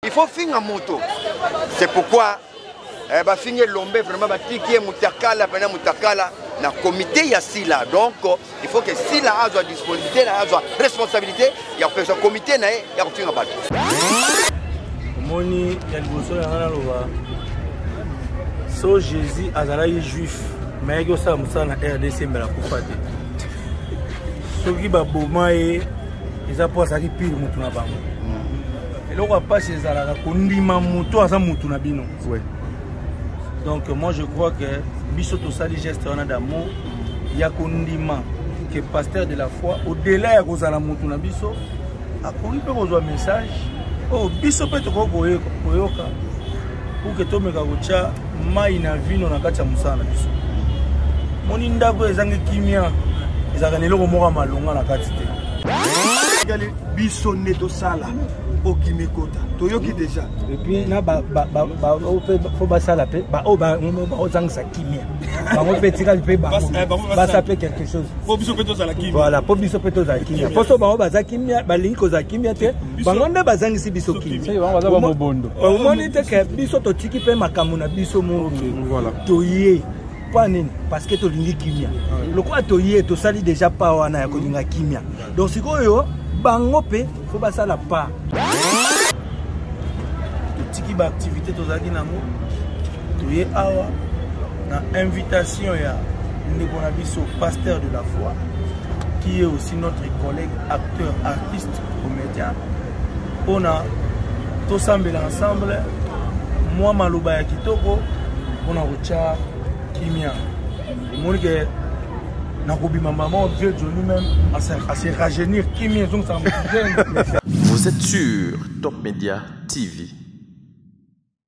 il faut finga moto c'est pourquoi eh, bafingi elombe vraiment batiki ye mutakala pena mutakala na comité ya sila donc il faut que sila azwa disponibilité na azwa responsabilité ya kopesa comité na ye ya kofinga bato omoni ya liboso yanga naloba so jésus azalaki juif me ayaki osala mosala na rdc mbela kufa te soki baboma ye eza mpo azalaki pire motu na bango hmm. eloko ya mpasi ezalaka kondima moto aza motu na bino donc moi je crois que biso tosali geste wana d'amour ya kondima que pasteur de la foi au-delà ya kozala motu na biso akoki mpe kozwa message oyo oh, biso mpe tokoki koyoka pour que tomeka kotya mai na vino na kati ya mosala na biso moni ndako oyo ezangi kimia ezalaka na eloko moko ya malonga na kati te tikali biso nde tosala okimi ekota toyoki deja epuis na fo basala mpe baoyo baozangisa kimia bango mpe etikali mpe basa mpe quelque chose voilà mpo biso mpe tozala kimia mpo so bango baza kimia balingi kozala kimia te bango nde bazangisi biso kimomoni te ke biso totiki mpe makambo na biso moko toye mpo nini parce que tolingi kimia lokola toye tosali deja pa wana ya kolinga kimia donc sikoyo bango mpe fo basala pa totiki baaktivité tozalaki nango toye awa na invitation ya ndeko na biso pasteur de la foi qui est aussi notre collègue acteur artiste komedia mpona tosambela ensemble mwa maloba ya kitoko mpona kotya kimia omoni ke nakobima mama vieux jo lui-même ase rajeunir kimia ezongisaka mojeune vous êtes sur top media tv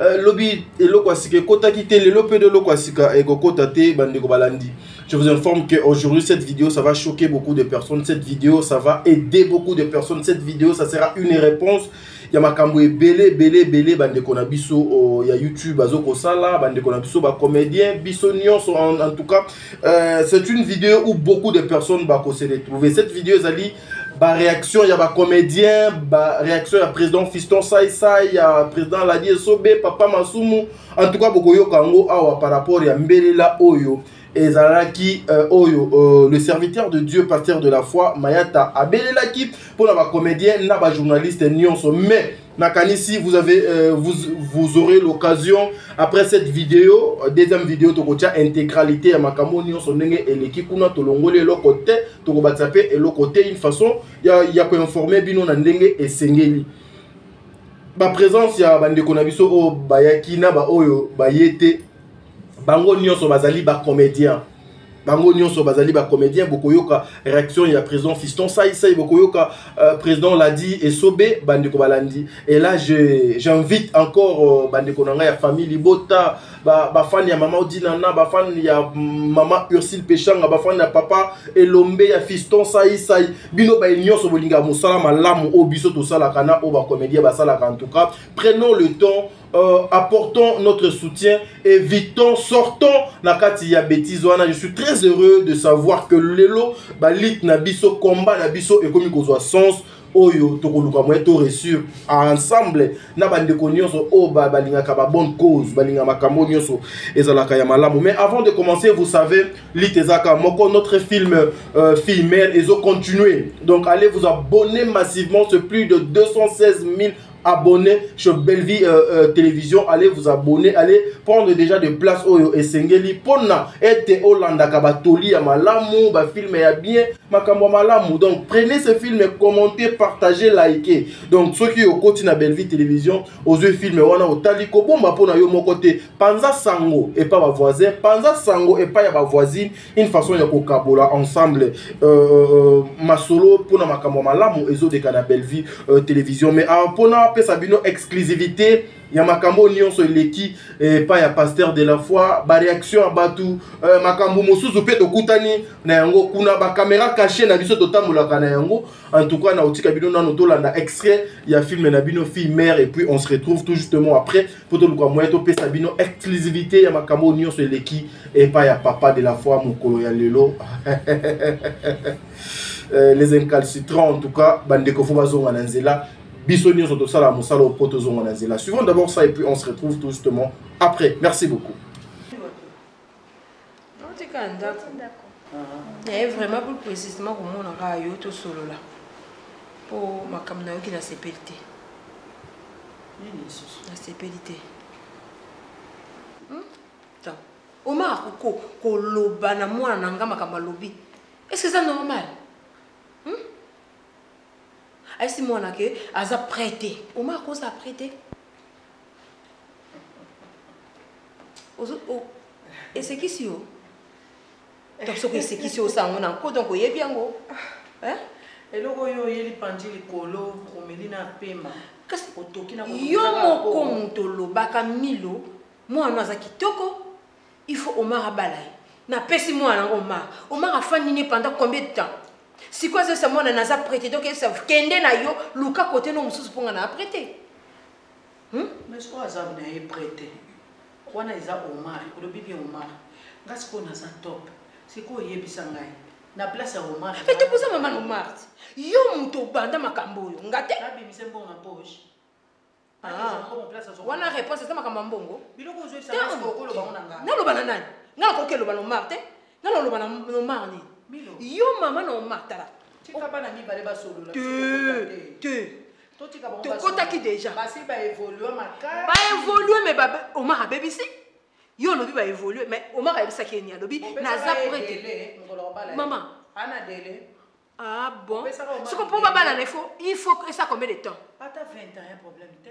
Euh, lobi eloko ya sika ekotaki te lelo mpe eloko ya sika ekokota te bandeko balandi je vous informe que aujourd'hui cette vidéo ça va choquer beaucoup de personnes cette vidéo ça va aider beaucoup de personnes cette vidéo ça sera une réponse ya makambo ebele ebele ebele bandeko na biso oh, ya youtube bazo kosala bandeko na biso bacomédien biso nyonso en, en tout cas euh, c'est une vidéo où beaucoup de personnes bakose retrouver cette vidéo ezali ba réaction ya ba comédien ba réaction ya président fiston sai sai ya président ladi esobe papa masumu en tout cas bokoyoka yango awa par rapport ya mbelela oyo ezalaki euh, oyo euh, le serviteur de dieu pasteur de la foi mayata abelelaki mpo na bacomédien na bajournaliste nyonso mais nakanisi vous avez euh, vous, vous aurez l'occasion après cette vidéo euh, deuxième vidéo tokotia intégralité ya makambo nyonso ndenge eleki kuna tolongoli eloko te tokobatisa mpe eloko te une façon ya, ya koinforme bino na ndenge esengeli baprésence ya bandeko na biso oyo bayaki na baoyo baye te bango nyonso bazali bacomédien bango nyonso bazali bacomédien bokoyoka réaction ya président fiston saisai bokoyoka euh, président ladi esobe bandeko balandi et là j'invite je, encore euh, bandeko na ngai ya famille libota bafani ba ya mama odinana bafani ya mama ursile peshanga bafani ya papa elombe ya fiston saisai bino baye nyonso bolingaka mosala malamu oyo biso tosalaka na oyo bacomédien basalaka en tout cas prenons le temps Euh, apportons notre soutien, évitons, sortons na kati ya bêtise wana. Je suis très heureux de savoir que lelo ba lit na biso combat na biso ekomi kozwa sens oyo tokoluka moye to réussir ensemble na bandeko nyonso oyo balingaka ba bonne cause balingaka makambo nyonso ezalaka ya malamu mais avant de commencer vous savez lit ezaka moko notre film euh, fille mère ezo continuer donc allez vous abonner massivement c'est plus de 216 000 abonner sur Bellevue euh, euh, télévision allez vous abonner allez prendre déjà de place oyo esengeli pona ete olandaka batoli ya malamu bafilme ya bien makambo ya malamu donc prenez ce film commentez partagez likez donc soki okoti na Bellevue télévision ozwi filme wana otali kobomba mpo na yo moko te panza sango epa bavoisin panza sango epai ya bavoisine une façon ya kokabola ensemble euh, euh, euh masolo mpona makambo ya malamu ezodeka na bellevue euh, télévision mais ah, mpona apesa bino exclusivité ya makambo oyo nyonso eleki epai eh, ya pasteur de la foi baréaction ya bato euh, makambo mosusu mpe tokutani na yango kuna bakamera cache na biso totambolaka na yango en tout cas nakotika bino nano tolanda extrait ya filme na bino fille mère et puis on se retrouve tout justement après mpo toluka moyen topesa bino exclusivité ya makambo oyo nyonso eleki epai ya papa de la foi mokolo ya lelo euh, les incalcitrants en tout cas bandeko fo bazonga na nzela biso nyonso tosala mosala oyo mpo tozonga na nzela suivons d'abord ça et puis on se retrouve tout justement après merci beaucoup otika ndako naye eh, vraiment plus précisement komona kaka yo tosolola mpo makambo nayoki nasepeli te nasepeli te omaka koko koloba na mwana na nga makambo alobi est-ce que eza normal hmm? ayesi mwana ke aza prêt te omaka kozala prêt te ozo o esekisi yo donc soki esekisi osango na nko donc oyebi yango hein eloko oyo oyeli panzi likolo omeli na pema kasi otoki na yo moko moto olobaka milo mwana oyo aza kitoko il faut omar abala ye napesi mwana yango omar omar afandi ne pendant combien de temps sikoyo azoyesa mwana naza prete donc kende na yo luka kote no mosusu mpo nga na aprete Hum mais sikoyo aza na ye près te wana eza Omar olobi bien Omar nga sikoyo naza top sikoyo oyebisa ngai na place ya Omar mais tokoza mama na Omar yo moto obanda makambo oyo nga te abimise mbongo na poche ah. wana réponse eza makambo ya mbongo naloba na nani nga nakoki eloba na Omar te nga naloba na Omar nini yo mama na Omar tala te te tokotaki deja baevolue me omar abebisi yo olobi baevolue me omar ayebisaki eni alobi naza prete mama ah bon soko mpo babalana ifo il faut esa combien de temps ata 20 ans ya problème te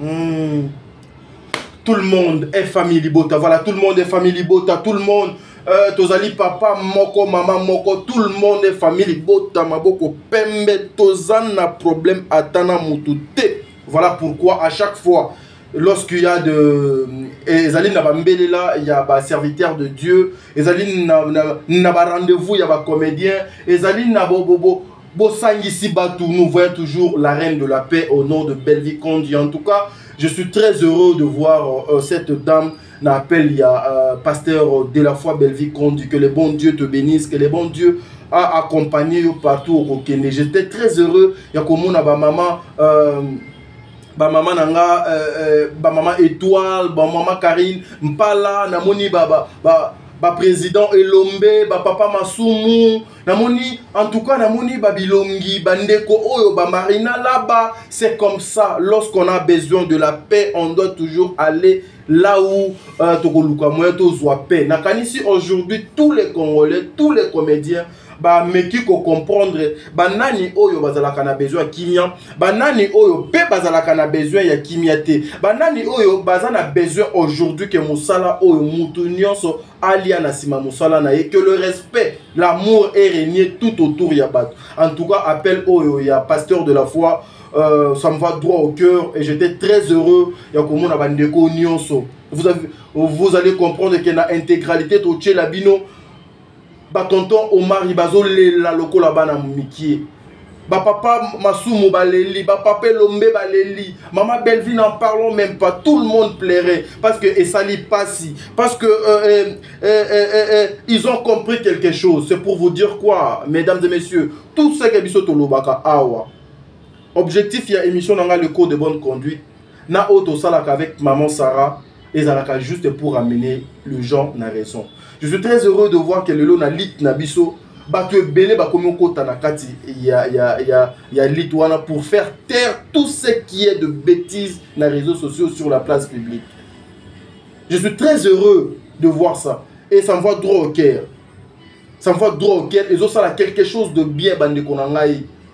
Mmh. Tout le monde est famille Libota. Voilà, tout le monde est famille Libota. Tout le monde, euh, Tozali papa, moko, maman, moko. Tout le monde est famille Libota. Maboko, pembe, tozan na problème, atana mutute. Voilà pourquoi à chaque fois, lorsqu'il y a de ezali na bambelela ya baserviteur de dieu ezali na, na, na barendez-vous ya bacomédien ezali na bobobo bo, Bosangisi Batou, nous voyons toujours la reine de la paix au nom de Bellevue Kondi. En tout cas, je suis très heureux de voir euh, cette dame n'appelle il y a euh, pasteur de la foi Bellevue Kondi. Que le bon Dieu te bénisse, que le bon Dieu a accompagné yo partout au Kokende. J'étais très heureux. Il y a comme on a ma maman. Euh, bamama na nga euh, euh, bamama étoile bamama karine mpala namoni baprésident ba, ba, ba elombe bapapa masumu namoni en tout cas namoni babilongi bandeko oyo bamarina laba c'est comme ça lorsqu'on a besoin de la paix on doit toujours aller là où euh, tokoluka moyen tozwa paix nakanisi aujourd'hui tous les congolais tous les comédiens bameki kocomprendre banani oyo bazalaka na besoin ya kimia banani oyo mpe bazalaka na besoin ya kimia te banani oyo baza na besoin aujourd'hui ke mosala oyo mutu nyonso alia na nsima mosala na ye que le respect l'amour est régné tout autour ya bato en tout cas appel oyo ya pasteur de la foi euh, ça me va droit au cœur et j'étais très heureux ya komona bandeko nyonso vous, avez, vous allez comprendre que na intégralité totyela bino batonton omari bazolela lokola bana mikie bapapa masumu baleli bapapa elombe baleli mama bellevue n'en parlons même pas tout le monde plairait parce que esali pasi parce que euh, euh, euh, euh, euh, euh ils ont compris quelque chose c'est pour vous dire quoi mesdames et messieurs tout ce que biso tolobaka awa objectif ya émission na ngai le code de bonne conduite na oyo tosalaka avec maman sarah ezalaka juste pour amener le gens na raison je suis très heureux de voir que lelo na lite na biso bato ebele bakomi okota na kati ya, ya, ya, ya lite wana pour faire taire tout ce qui est de bêtise na réseaux sociaux sur la place publique je suis très heureux de voir ça et ça me voit droit au cœur ça me voit droit au cœur ezosala quelque chose de bien bandeko na ngai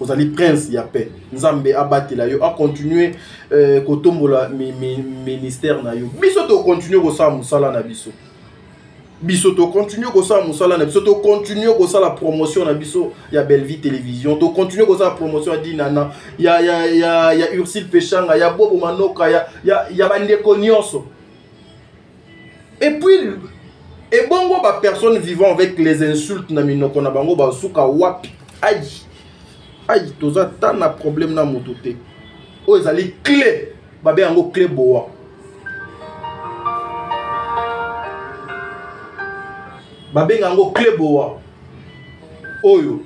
ozali prince ya paix nzambe abatela yo akontinue euh, kotombola mi, mi, ministère na yo biso tokontinue kosala mosala na biso biso tokontinue kosala mosala na biso tokontinue kosala promotion na biso ya bellevie télévision tokontinue kosala promotion ya dinana ya, ya, ya, ya ursile peshanga ya bobo manoka ya, ya, ya bandeko nyonso et puis ebongo ba personnes vivant avec les insultes na minoko na bango basuka wapi ai ai toza ta na problème na motu te oyo ezali clé babe yango clé boa babenga yango clé boa oyo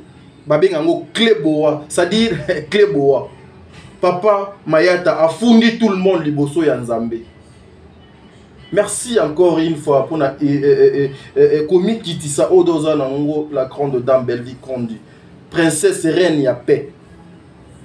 babenga yango clé boa c'est-à-dire clé boa papa mayata afundi tout le monde liboso ya nzambe merci encore une fois mpona komikitisa oyo do oza na yango la grande dame bellevie condi princesse reine ya paix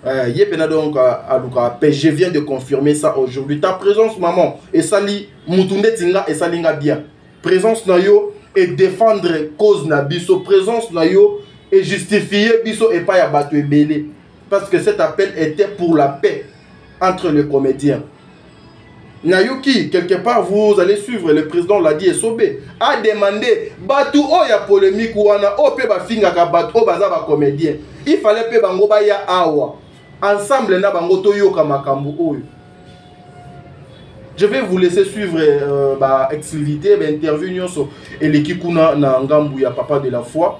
euh, ye mpena donc alukaka paix je viens de confirmer ça aujourd'hui ta présence maman esali mutu ndeti nga esali nga bien présence na yo e défendre cause na biso présence na yo e justifie biso epai ya bato ebele parce que cet appel était pour la paix entre les comédiens Nayuki, quelque part, vous allez suivre, le président l'a dit, Sobe a demandé, Batou oh, ya polémique, ou ana, oh, pe ba finga ka Batou, oh, baza ba comédien. Il fallait pe bango ba ya awa. Ensemble, na bango to yoka makambu oyo. Je vais vous laisser suivre euh, bah, exclusivité, bah, interview et les kikuna na ngambu ya papa de la foi.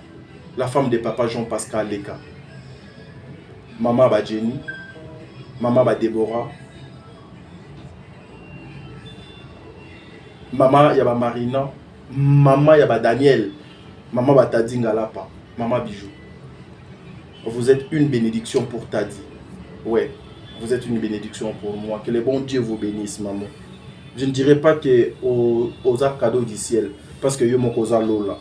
la femme de papa jean pascal leka mama ba jenny mama ba deborah mama ya ba marina mama ya ba daniel mama ba tadi ngalapa mama bijou vous êtes une bénédiction pour tadi ouais vous êtes une bénédiction pour moi que le bon dieu vous bénisse maman je ne dirais pas que aux, aux cadeaux du ciel parce que yo moko oza lola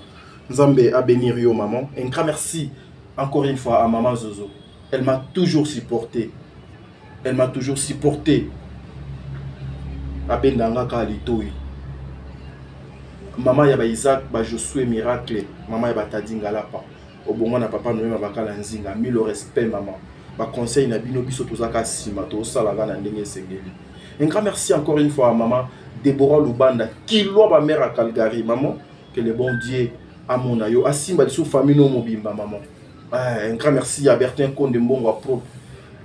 Nzambe a bénir yo maman. Un grand merci encore une fois à maman Zozo. Elle m'a toujours supporté. Elle m'a toujours supporté. Abenda ngaka alitoyi. Maman ya ba Isaac, ba Josué Miracle, maman ya ba Tadi Ngalapa. Obongo na papa Noema bakala nzinga. Mille respect maman. Ba conseil na bino biso tozaka sima to sala na ndenge esengeli. Un grand merci encore une fois à maman Deborah Lubanda, Kilwa ba mère à Calgary, maman. que le bon dieu amona yo asimba lisusu famille no mobimba maman eh, un grand merci à bertin konde mbongo ya propre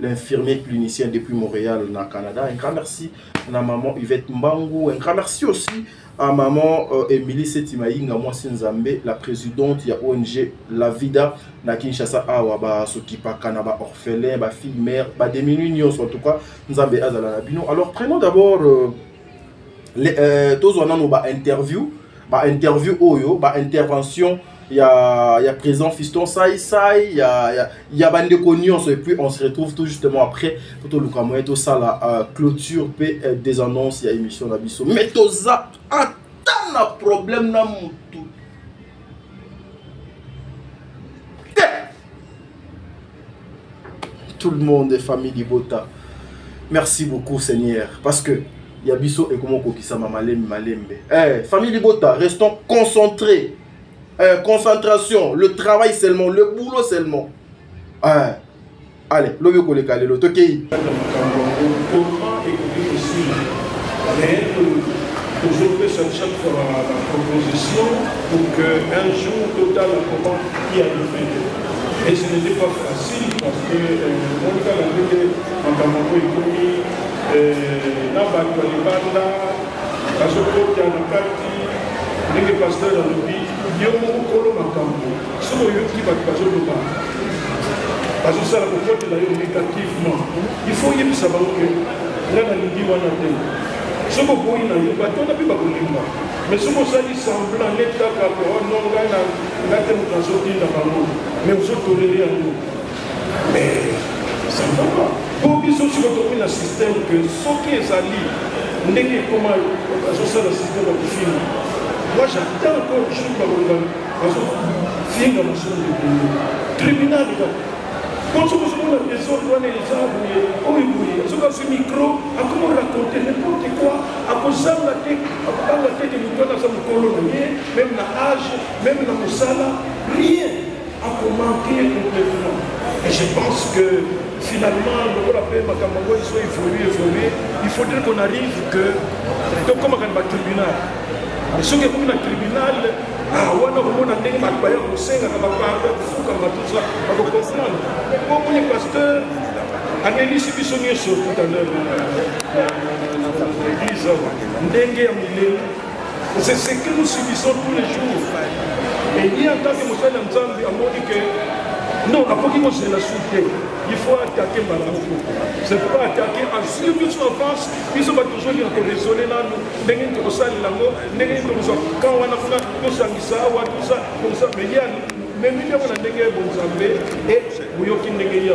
l'infirmier clinicien depuis Montréal, na Canada. Un grand merci à la maman Yvette Mbangu. Un grand merci aussi à maman euh, Emily Setimaïnga, moi Nzambe, la présidente de ONG La Vida, na Kinshasa, awa ba sokipa kana ba orphelin, ba fille mère, ba demi en tout cas, Nzambe azala na bino. Alors prenons d'abord euh, euh, tozwa nano ba interview ba interview oyo ba intervention ya ya président fiston sai sai ya ya, ya bandeko nyonso et puis on se retrouve tout justement après mpo toluka moyen tosala uh, clôture mpe uh, des annonces ya émission na biso mais toza ata na problème na motu tout le monde famille libota merci beaucoup seigneur parce que ya biso ekoma okokisama malembe malembe eh, famille libota restons concentrés euh, concentration le travail seulement le boulot seulement euh, allez lobi okoleka lelo tokei tozopesa chaque fois la proposition pour que un jour total comment y arrive Et ce n'était pas facile parce que monika na ndenge makambo yango ekomi na bato ya libanda bazokota na kati ndenge pasteur alobi yo mokolo makambo soki oyoki bato bazoloba bazosala kokotela yo négativement il faut oyebisa bango ke nga nalingi wana te soki oboyi na yo bato wana mpe bakolinga Mais soki osali semblant neti kaka ke oh non ngai na ngai te moto azotinda bango mais ozotolele yango mais ça ne va pas po biso siko tokomi na système ke soki ezali ndenge ekoma azosala système ya kofinga moi j'attends encore jour bakoloba bazofinga mosolo ebele tribunal kaka po soki ozomona desordre wana eza boye oyo boye soki azwi micro akoma raconte n'importe quoi akozanga te akobanga te te moto wana aza mokolo na ye meme na age meme na mosala rien akomanke complètement et je pense que finalement lokola mpe makambo yango ezo évolue évolue il faudrait qu'on arrive que tokomaka na batribunal mais soki ekomi na tribunal ah, wana okomona ndenge bato baya kosengaka bapardon kofukama tuza bakokomprendre okomoni pasteur anelisi biso nyonso tout à l'heure na église ndenge ya milelo c'est ce que nous subissons tous les jours et ye en tant que mosali ya nzambe amoni que non akoki kozela su te il faut attaquer mbala moko c'est pas attaquer asur biso en face biso bato tozongi na koresole nanu ndenge nini tokosalela yango ndenge nini tokozwa kan wana kuna tosangisa awa tosa tosa mais ye Omemi nde yango na ndenge ya bonzambe e boyoki ndenge ya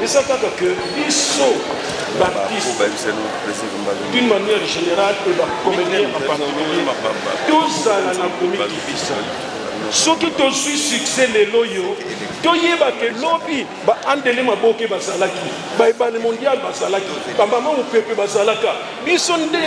eza kaka ke biso baptiste d'une manière générale e bacomédien en particulier tozala na komikitisa soki tozwi succès lelo oyo toyeba ke lobi baandele maboke bazalaki baebale mondial bazalaki bamama mopepe bazalaka biso nde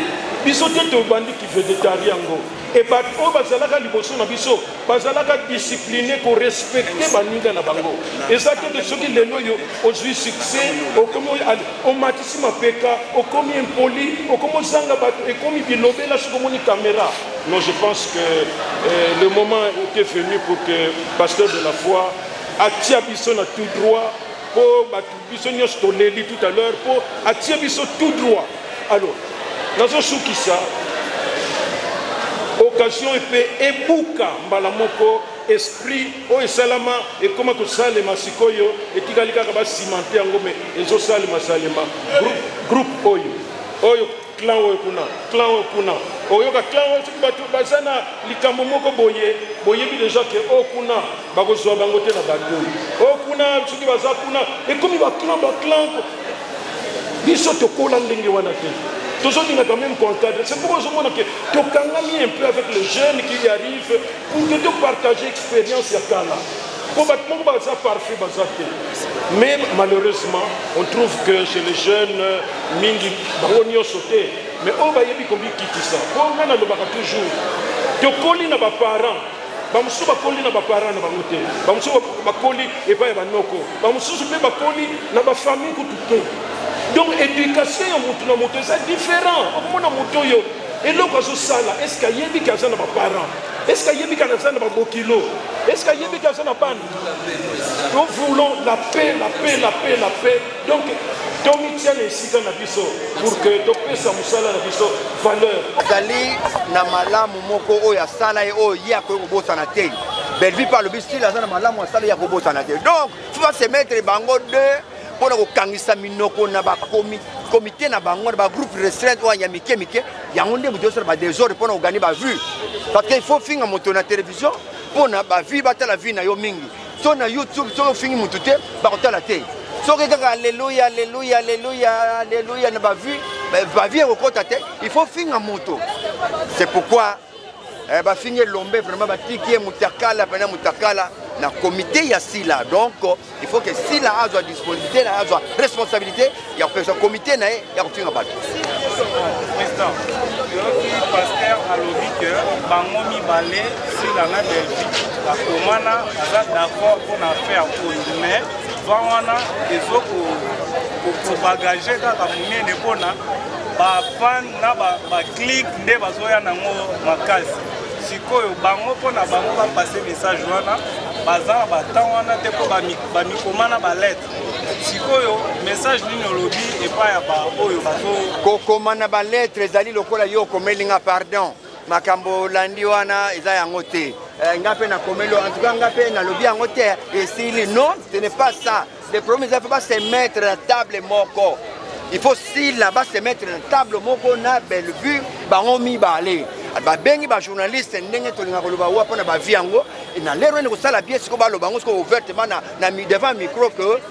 biso te tobandi kivedetari yango Et bato oyo bazalaka liboso na biso bazalaka discipline korespecte baninga na bango eza te de soki lelo oyo ozwi succès okomi omatisi mapeka okomi impoli okomi ozanga bato ekomi bilobela soki omoni kamera non je pense que euh, le moment était venu pour que pasteur de la foi atia biso na tout droit mpo bato biso nyonso toleli tout à l'heure mpo atie biso tout droit alors nazosukisa occasion epe ebuka mbala moko esprit oyo esalama ekoma kosalema sikoyo etikali kaka basimante yango me ezosalema salema groupe oyo oyo clan oyo kuna clan oyo kuna oyoka clan oyo soki bato baza na likambo moko boye boyebi deja ke o oh, kuna bakozwa bango te na bato o oh, kuna soki baza kuna ekomi baclan baclan biso tokola ndenge wana te tozolingaka meme koencadre c'est pourquoi ozomona ke tokangami un peu avec le jeune qui arrive pour que to partager expérience ya kala mpo bato moko baza parfait baza te mais malheureusement on trouve que chez les jeunes mingi bango nyonso te mais oyo bayebi komikitisa mpo nga nalobaka toujours tokoli na baparent bamosusu bakoli na baparent na bango te bamosusu bakoli epai ya banoko bamosusu mpe bakoli na bafamille kutu te donc éducation ya motu na moto eza différent okomona moto oyo eloko azosala eske ayebi ke aza na baparent eske ayebi ke aza na babokilo eske ayebi ke aza na bana nous voulons la paix la paix la paix la paix donc tomitia na esika na biso pour que topesa mosala na biso valeur azali na malamu moko oyo asala ye oyo ye akoki kobosana te bellevue mpe alobi stile aza na malamu asala ye akobosana te donc tu vas se mettre bango deux mpo na kokangisa minoko na bakomite na bango na bagroupe restreinte oyo ya mike mike yango nde moto yosala badesordre mpo na kogani bavue parce que il faut finga moto na télévision mpo na bavie batala vie na yo mingi so na youtube soki ofingi motu te bakotala te soki kaka aleluya aleluya aleluya aleluya na bavie bavie ekokota te il faut finga moto c'est pourquoi eh, bafingi elombe vraiment batiki ye mutakala pena mutakala na comité ya sila donc il faut que sila azwa disponibilité na azwa responsabilité ya kopesa comité na ye ya kofinga bato président yoki pasteur alobi ke bango mibale sila na delvi bakomana aza d'accord mpo na affaire oyo mais va wana ezokobagage kaka monene mpona bafan na baclick ba nde bazoya nango makasi sikoyo bango mpo na bango bapase message wana baza na batemp wana te mpo bamikoma na baletre sikoyo message nini olobi epai ya baoyo bazo kokoma na baletre ezali lokola yo okomeli nga pardon makambo olandi wana eza yango te eh, nga mpe nakomeli en tout cas nga mpe nalobi yango te esili non ce n'est pas ça le problème eza mpe ba se mettre na table moko il faut sila ba se mettre na table moko na bellevue bango mibale babengi bajournaliste ndenge tolinga koloba wa mpo na bavie yango na lero ene kosala bie sikoyo baloba yango sikoyo ouvertement na, na devant micro que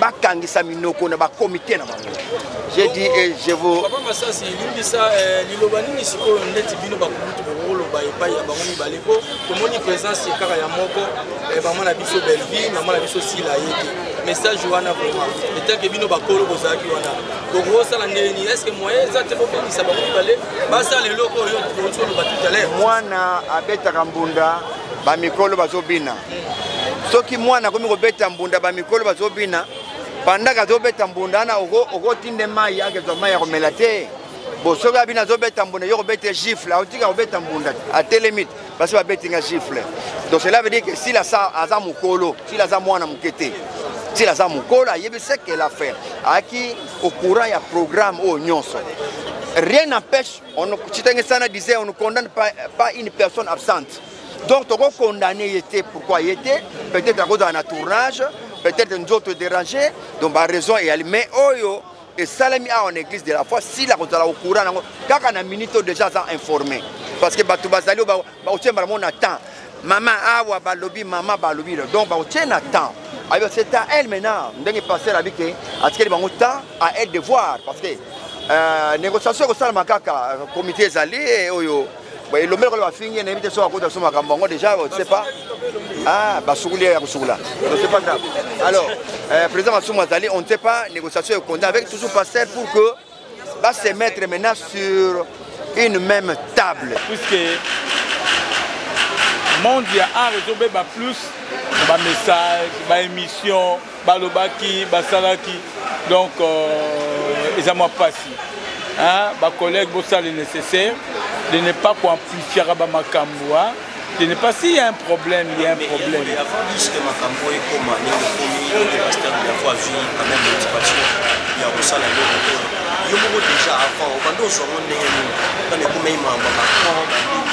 bakangisa minoko na bakomite na bango je dis et je vous papa masasi limbisa eh, liloba nini sikoyo ndeti bino bakulutu bokoloba epai ya bango mibale mpo tomoni présence kaka ya moko eh, mama na biso bellevie mama na biso sila ye te message wana vraiment etanke bino bakolo bozalaki wana bokosala ndenge nini estce moyen eza te bobengisa bango mibale basala eloko oyo tokoloba tout à l'heure mwana abetaka mbunda bamikolo bazobina soki mwana akomi kobeta mbunda bamikolo bazobina pandaka azobeta mbunda wana okotinde mai akezwa mai ya komela te bo soki abina azobeta mbunda yo kobeta gifle aotika kobeta mbunda atelemi basi babeti nga gifle donc cela veut dire que sila aza mokolo sila aza mwana moke te sila aza mokolo ayebi seke la faire ayaki au courant ya programme oyo nyonso rien n'empêche, si on ne condamne pas, pas une personne absente. donc toko condamne ye te pourquoi ye te peut-être akozala na tournage peut-être nzoto dérange donc baraison eyali mais oyo esalemi awa na église de la foi sila kozala okura nango kaka na minute oyo déjà aza informé parce que bato bazali oyo bakotie mbala moko na temps mama awa balobi mama balobi donc bakotie na temps ayo c'est à elle maintenant ndenge pasteur abi ke atikeli bango temps à elle de voir parce que euh, négociation ekosalama kaka comité ezali oyo boye elombe lokola bafingi ye nayebi te soki akota so makambo yango déjà ose pas ah, basukuli ya kosukula ose pas grave alors euh, président masumu azali on ne sait pas négociation ekonda avec toujours pasteur pour que va se mettre maintenant sur une même table puisque monde ya art ezobeba plus bamessage baémission balobaki basalaki donc euh, eza mwa mpasi bacollègue bosala le nécessaire de ne pas koamplifiaka bamakambo de ne pas s'il y a un problème il y a un problème ya kosala eloko te yo moko déjà avant obanda ozwa ngo ndenge nini mpana ekomei mambo macron bandini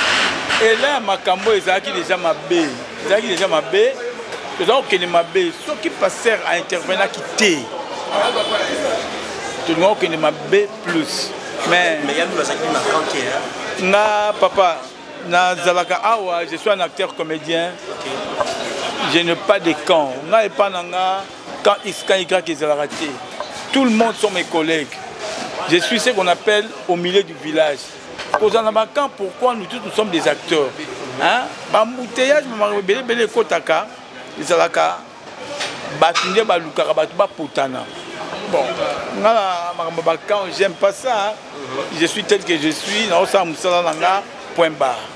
ela ya makambo ezalaki deja mabe ezalaki deja mabe toza kokende mabe soki pasteur aintervenaki te tolinga kokende mabe plus mais nga papa nazalaka awa je suis un acteur comédien je n'ai pas de camp nga epa na nga quand x quand y ezalaka te tout le monde sont mes collègues je suis ce qu'on appelle au milieu du village kozala na bacamp pourquoi nous tous nous sommes des acteurs bambouteillage makambo ebele ebele ekotaka ezalaka bato nde balukaka bato bapotana bon nga na makambo bacamp j'aime pas ça je suis tel que je suis naosala mosala na nga point barre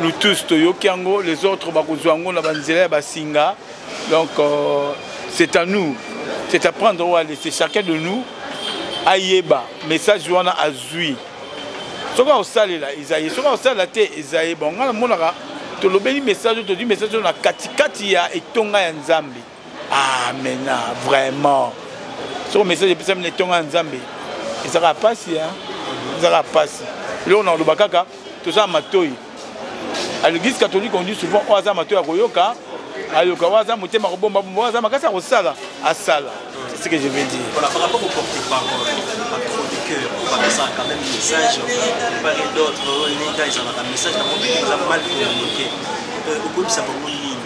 nous tous toyoki yango les autres bakozwa yango na banzela ya basinga donc euh, c'est à nous c'est à prendre ou à laisser chacun de nous ayeba message wana azwi soki akosalela eza ye soki akosalela te eza ye bon ngai namonaka tolobeli message oyo tozwi message oyo na katikati ya etonga ya nzambe ah mena vraiment soko message epesami na etonga ya nzambe ezalaka mpasi ezalaka mpasi eloko na koloba kaka toza na matoi à l'église catholique on dit souvent oyo aza matoi ya koyoka ayoka oyo aza motema kobomba bomba oyo aza makasi ya kosala asala c'est ce que je veux dire voilà, par rapport au porte-parole à trop de cœur bakosaka quand même message par et d'autres oyo nega ezalaka message na moto eza mal communiqué okobisa bango nini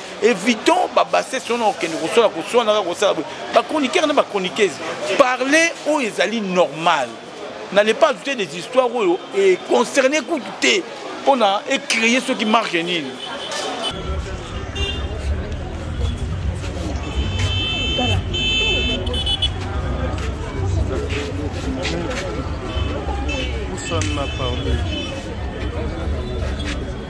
évident babassesse wana okende kosala koswanaka kosala boye bachroniqueur na bachroniqueuse parle oyo ezali normal n'allez pas ajouter des histoires oyo econcerne kutu te mpo na ecreye soki marke nini Personne n'a parlé.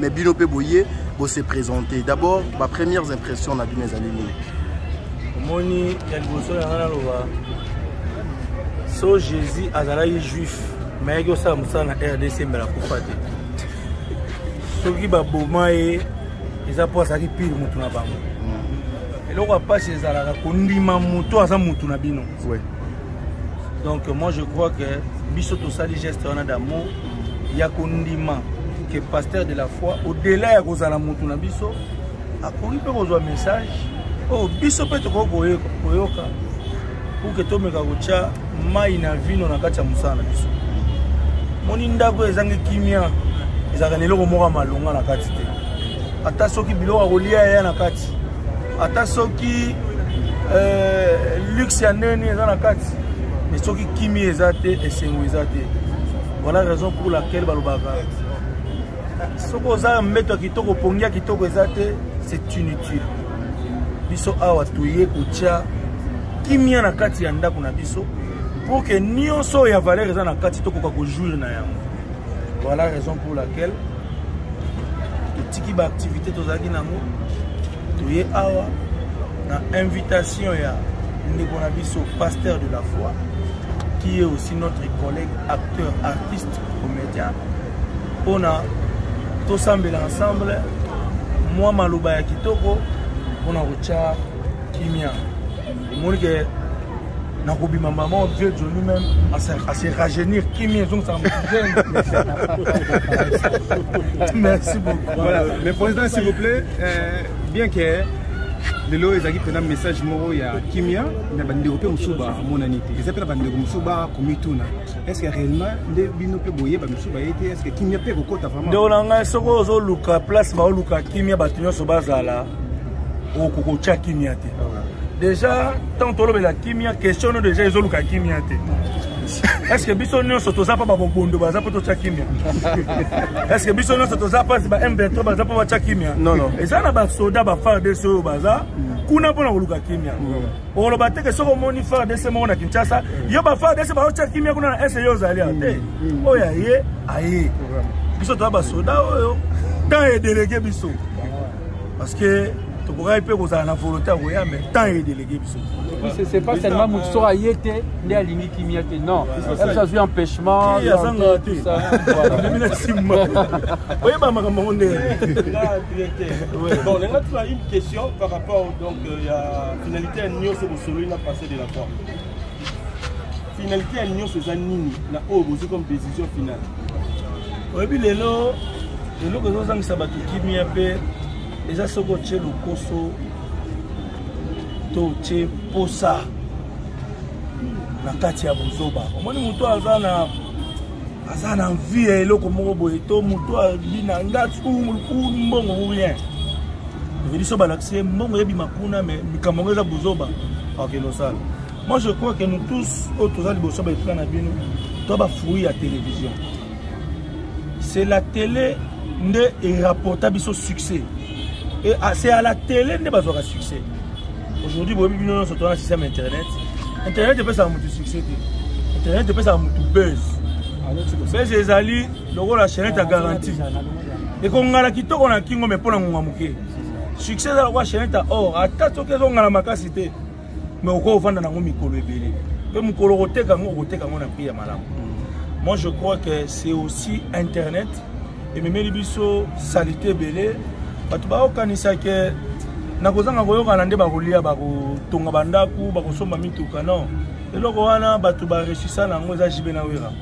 mais bino mpe boye bose présente d'abord ba premières impressions na bino ezali nini omoni ya liboso yanga naloba so jésus azalaki juif me ayaki osala mosala na rdc mbela kufa te soki baboma ye eza mpo azalaki pire motu na bango mm. eloko ya mpasi ezalaka kondima moto aza motu na bino donc moi je crois que biso tosali geste wana d'amour ya kondima que pasteur de la foi au-delà ya kozala motu na biso akoki mpe kozwa message oyo oh, biso mpe tokoki koyoka pour que tomeka kotya mai na vino na kati ya mosala na biso moni ndako ezangi kimia ezalaka na eloko moko ya malonga na kati te ata soki biloko ya kolia yaya na kati ata soki euh, luxe ya ndeni eza na kati mais soki kimi eza te esengo eza te voilà raison pour laquelle balobaka soki oza mbeto ya kitoko pongi ya kitoko eza te c'est inutile biso awa toye kotya kimia na kati ya ndako na biso pour que nyonso ya valeur eza na kati tokoka kojouir na yango voilà raison pour laquelle totiki baaktivité tozalaki nango toye awa na invitation ya ndeko na biso pasteur de la foi qui est aussi notre collègue acteur artiste comédien mpona tosambela ensemble mwa maloba ya kitoko mpona kotya kimia omoni ke nakobima mama wa vieux joni meme ase rajeunir kimi ezongisaka mojeune merci beaucoup voilà mais président s'il vous plaît euh, bien que lelo ezalaki mpena message moko ya kimia na bandeko mpe mosusu bamonani te eza mpe na bandeko mosusu bakomituna estce réellement nde bino mpe boyeba mosusu baye te estce kimia mpe ekokota vraiment ndeko na ngai soki ozoluka place baoluka kimia bato nyonso bazala okokotya kimia te déjà ntango tolobela kimia question no déjà ezoluka kimia te estce biso nyonso toza mpo babobondo baza mpo totya kimia estce biso nyonso toza mpasi ba m23 baza mpo batya kimia eza na basoda ba fardc oyo baza kuna mpo na koluka kimia oloba teke soki omoni fardc moko na kinshasa yo ba fardc baotya kimia kuna na ese yo ozali awa te oyo aye aye biso toza basoda oyo temps edelege biso parce que tokokaki mpe kozala na volonté ya koya mais temps edelege biso c'est pas seulement moto soko aye te nde alingi kimia te non biso azwi empêchement azanga te memi na nsima oyeba makambo yango ndenge bon lenga tuna une question par rapport donc euh, ya finalité ya nyonso bosololi na passé de la forme finalité ya nyonso eza nini na oyo bozwi comme décision finale oyebi lelo eloko ezozangisa bato kimia mpe eza soki otye lokoso to otye mposa na kati ya bozoba omoni moto aza na aza na envie ya eloko moko boye to moto abi na ngati mbongo ou rien eveliso balakisi ye mbongo ebima kuna me likambo yango eza bozoba akende osala Moi je crois que nous tous oyo toza liboso ba etuka na bino to ba fruit ya télévision. C'est la télé nde e rapporta biso succès. Et ah, c'est à la télé nde bazwaka succès. Aujourd'hui boyebi bino nyonso toza na système internet. Internet epesaka motu succès te. Internet epesaka motu buzz. Buzz ezali lokola chaînette ya garantie. Ekongala kitoko na kingo mais mpo na ngonga moke. Succès eza lokola chaînette ya or ata soki ezongala makasi te. mais okoki ovanda nango mikolo ebele mpe mokolo okoteka yango okoteka yango na prix ya malamu mm. moi je crois que c'est aussi internet ememeli biso salite ebele bato baokanisa ke na kozanga koyokana nde bakolia bakotonga bandako bakosomba mituka non eloko wana bato baresisa na yango eza jibe na wera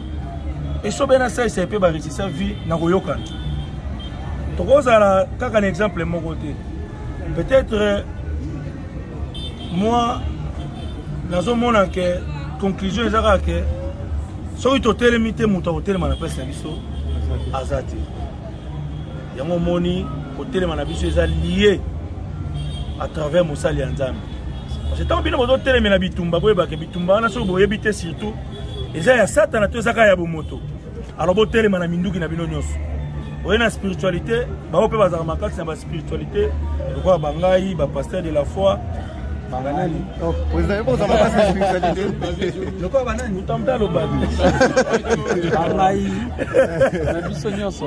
esobe na saisai mpe baresisa vie na koyokana tokozala kaka na exemple moko te peut-être moi nazomona ke conclusion eza kaka ke soki totelemi te moto akotelema na place na biso aza te yango omoni kotelema na biso eza lie à travers mosali ya nzambe parce que ntango bino bozotelemela bitumba boyebake bitumba wana soki boyebi te surtout eza ya satana to ezaka ya bomoto alors botelema na minduki na bino nyonso oye na spiritualité bango mpe bazalaka makasi na baspiritualité lokola bangai bapaster de la foi banani oh, lokola banani motamta alobaki bangai na biso nyonso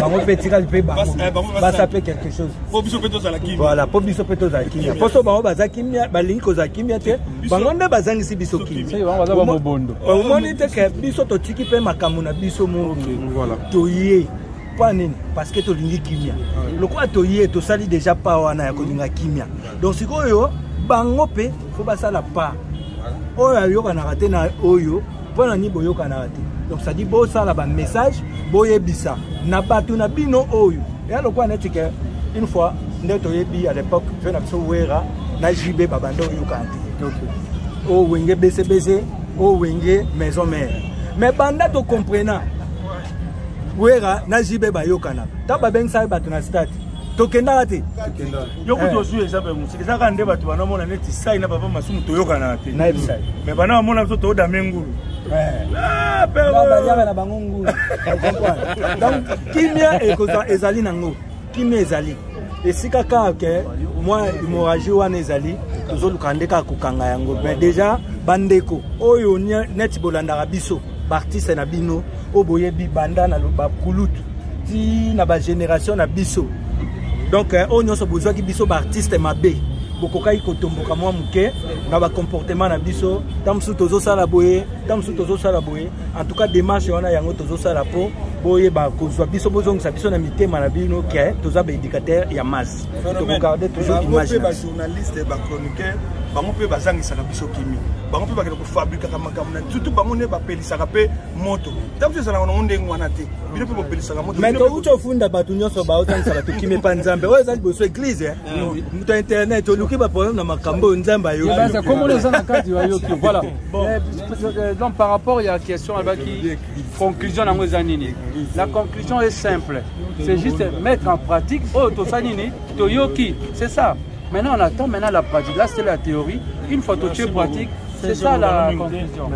bango mpe etikali mpe basa mpe quelque chose voilà mpo biso mpe tozala kimia mpo so bango baza kimia balingi kozala kimia te bango nde bazangisi biso kimiaomoni te ke biso totiki mpe makambo na biso moki toye mpo nini parce que tolingi kimia lokola toye tosali déjà pa wana ya kolinga kimia donc sikoyo bango mpe fo basala pa oyo ayokanaka te na oyo mpo na nini boyokanaka te donc sadi bosala bamessage boyebisa na bato na bino oyo ya lokola neti ke une fois nde toyebi à l'époque mpe na biso wera na jb babanda oyokana te o oh, wenge besebese o oh, wenge maison mare mais banda tocomprena wera na jb bayokanaka ntango babengisaki bato na stade tokendaka te yo kutu eh. ozwi exemple ya mosika eza kaka nde bato bana omona neti sai na papa masumu toyokanaka te nayebisai me bana bamona biso toodame ngulu eh. ah, baliaka na bango ngulu donc kimia ezali nango kimia ezali esika kaka ke mwa hémorragie wana ezali tozoluka nde kaka kokanga yango me déjà bandeko oyo neti bolandaka biso baartiste na bino oyo boyebi banda na bakulutu ti na ba generation na biso donc eh, oyo nyonso bozwaki biso baartiste mabe bokokaki kotomboka mwa moke na bacomportement na biso ntango mosusu tozosala boye ntango mosusu tozosala boye en tout cas démarche wana yango tozosala mpo boyeba kozwa biso bozongisa biso na mitema na bino ke toza baéducateur ya masse tokogarde toujours image mpe bajournaliste bachroniqueur bango mpe bazangisaka biso kimi bango mpe bakende kofabrikaka makambo na surtout bango nde bapelisaka mpe moto ntango ezalaka nango ndenge wana te bino mpe bopelisaka moto mais touti ofunda bato nyonso baotangisa bato kime mpa nzambe oyo eza liboso eglize eh? ah moto ya internet oluki baproblème na makambo oyo nzambe ayokikomona eza na kati bayoki voilà eh, euh, donc par rapport ya question alobaki conclusion yango eza nini la conclusion est simple c'est juste mettre en pratique oyo tosali nini toyoki c'est ça maintenant on attend maintenant la pratique là c'est la théorie une fois totie pratique c'est ça la conclusion